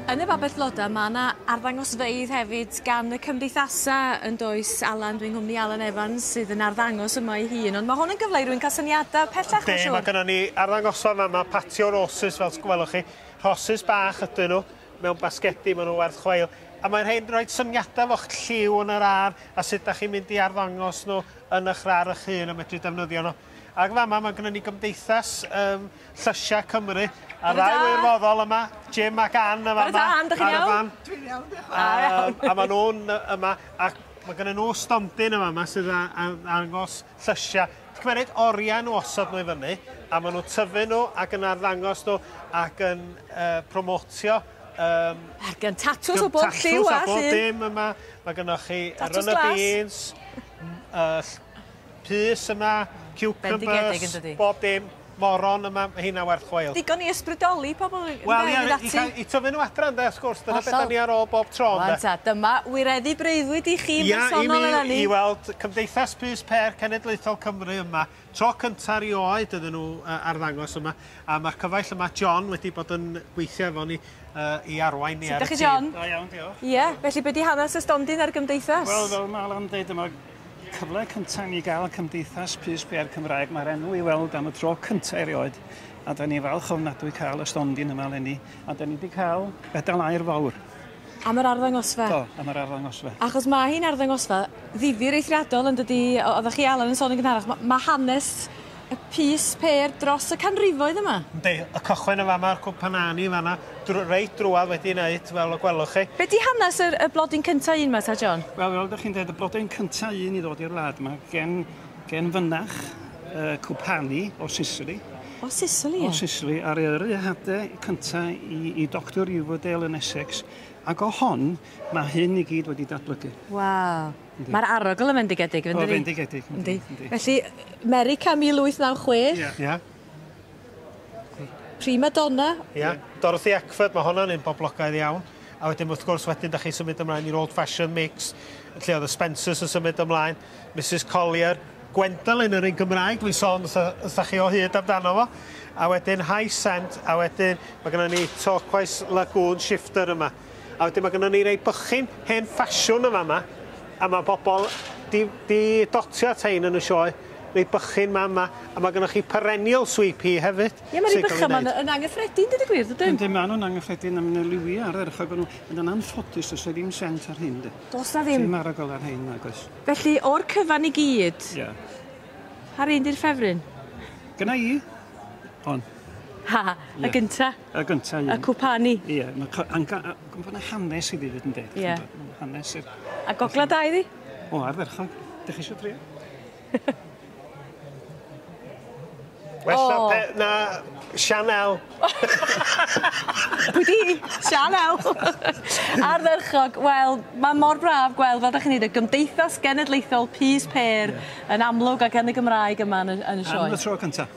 Yn y babell floda mae yna arddangosfeydd hefyd gan y cymdeithasau yn does Alan, dwi'n nghwmni Alan Evans sydd yn arddangos yma ei hun ond mae hwn yn gyfle i rwy'n cael syniadau pellach mae'n siŵr. Mae gennym ni arddangosfa yma, mae patio roses fel gwelwch chi, rhosys bach ydyn nhw mewn basgedi, maen nhw werth chweil a mae'n rhaid rhoi syniadau o'ch lliw yn yr ar a sut da chi'n mynd i arddangos nhw yn eich rar eich hun a medru defnyddio nhw. Ac fama mae gynnon ni Gymdeithas um, Llysiau Cymru. A rai wirfoddol yma, Jim ac Ann yma. Bore da, Ann, dych chi'n iawn? Dwi'n iawn, diolch. A, a, a maen nhw'n yma, ac mae gynnon nhw stondin yma yma sydd â angos llysiau. Ti'n cymryd oriau nhw osod nhw i fyny, a maen nhw'n tyfu nhw ac yn arddangos nhw ac yn uh, promotio Um, Ar gan tatws o bob lliw a llun. Tatws a bob dim yma. Mae gennych chi Run y Beans, uh, pys yma, ciwcymbyrs, bob dim, moron yma, mae hynna werth chweil. Digon i ysbrydoli pobl i fynd ati. Wel ie, i tyfu nhw adra ynde, wrth gwrs, dyna beth da ni ar ôl bob tro ynde. Wan ta, dyma wireddu breuddwyd i chi bersonol eleni. Ia, i mi, i weld Cymdeithas Pys Pêr Cenedlaethol Cymru yma, tro cynta rioed iddyn nhw arddangos yma, a mae'r cyfaill yma, John, wedi bod yn gweithio efo ni i arwain ni ar y tîm. Sut ydych chi John? Da iawn, diolch. Ie, felly be di hanes y stondin a'r gymdeithas? Wel, fel mae Alan yn dweud yma, Cyfle cynta ni gael Cymdeithas Pys Pêr Cymraeg, mae'r enw i weld am y tro cynta erioed, a da ni falch ofnadwy cael y stondin yma eleni, a da ni wedi cael medal aur fawr. Am yr arddangosfa. Do, am yr arddangosfa. Achos mae hi'n arddangosfa ddifyr eithriadol yn dydi, oeddech chi Alan yn sôn yn gynharach, mae hanes y pys pêr dros y canrifoedd yma. Yndi, y cychwyn yn fama, a'r cwpan a ni fanna, dr reit drwad wedi'i wneud, fel y gwelwch chi. Be di hanes yr, y blodyn cynta un ma ta, John? Wel, fel dych chi'n deud, y blodyn cynta un i ddod i'r wlad yma, gen, gen fynach, y cwpani o Sicily. O Sicily, O Sicily, ar yrru hade cynta i, i Doctor Riverdale yn Essex, ac o hon, mae hyn i gyd wedi datblygu. Waw. Mae'r arogl yn fendigedig, yn O, dydi? fendigedig. Yndi. Yndi. Felly, Merica 1896. Ie. Ia. Prima Donna. Ia. Dorothy Eckford, mae honna'n un boblogaidd iawn. A wedyn, wrth gwrs, wedyn, da chi'n symud ymlaen i'r Old Fashioned Mix, lle oedd y Spencers yn symud ymlaen, Mrs Collier, Gwendolyn yr un Gymraeg, dwi'n sôn os da- os da chi o hyd amdano fo, a wedyn High Scent, a wedyn, mae gennym ni Torquoise Lagoon Shifter yma. A wedyn mae gennym ni rei bychin hen ffasiwn yn fama, a mae bobl 'di 'di dotio at hein yn y sioe, rei bychin 'ma yma, a mae gennych chi perennial sweet pea hefyd... Ie, mae rei bychan 'ma yn yn angyffredin, deud y gwir, dydyn? Yndyn, maen nhw'n angyffredin a mae 'na liwiau ardderchog ohonyn nhw, ond yn anffodus does 'na ddim sent ar hyn de. Does 'na ddim? Dim arogl ar rhein, nag oes. Felly, o'r cyfan i gyd... Ie. ...pa rei 'di'r ffefryn? Gynna i, hon. Ha, y gynta? Y gyntaf un. Y cwpani. Ie, mae gwybod na hanes i fi fyd yn deg. Ie. Hanes i'r... A gogla da i fi? O, ardderchog. Dych chi eisiau drio? Well oh. na, pe, na Chanel. Pwy di? Chanel. Ardderchog. Wel, mae mor braf gweld, fel da chi'n neud, y gymdeithas genedlaethol pys per yeah. yn amlwg ac yn y Gymraeg yma yn y, yn y sioe. Am y tro cyntaf.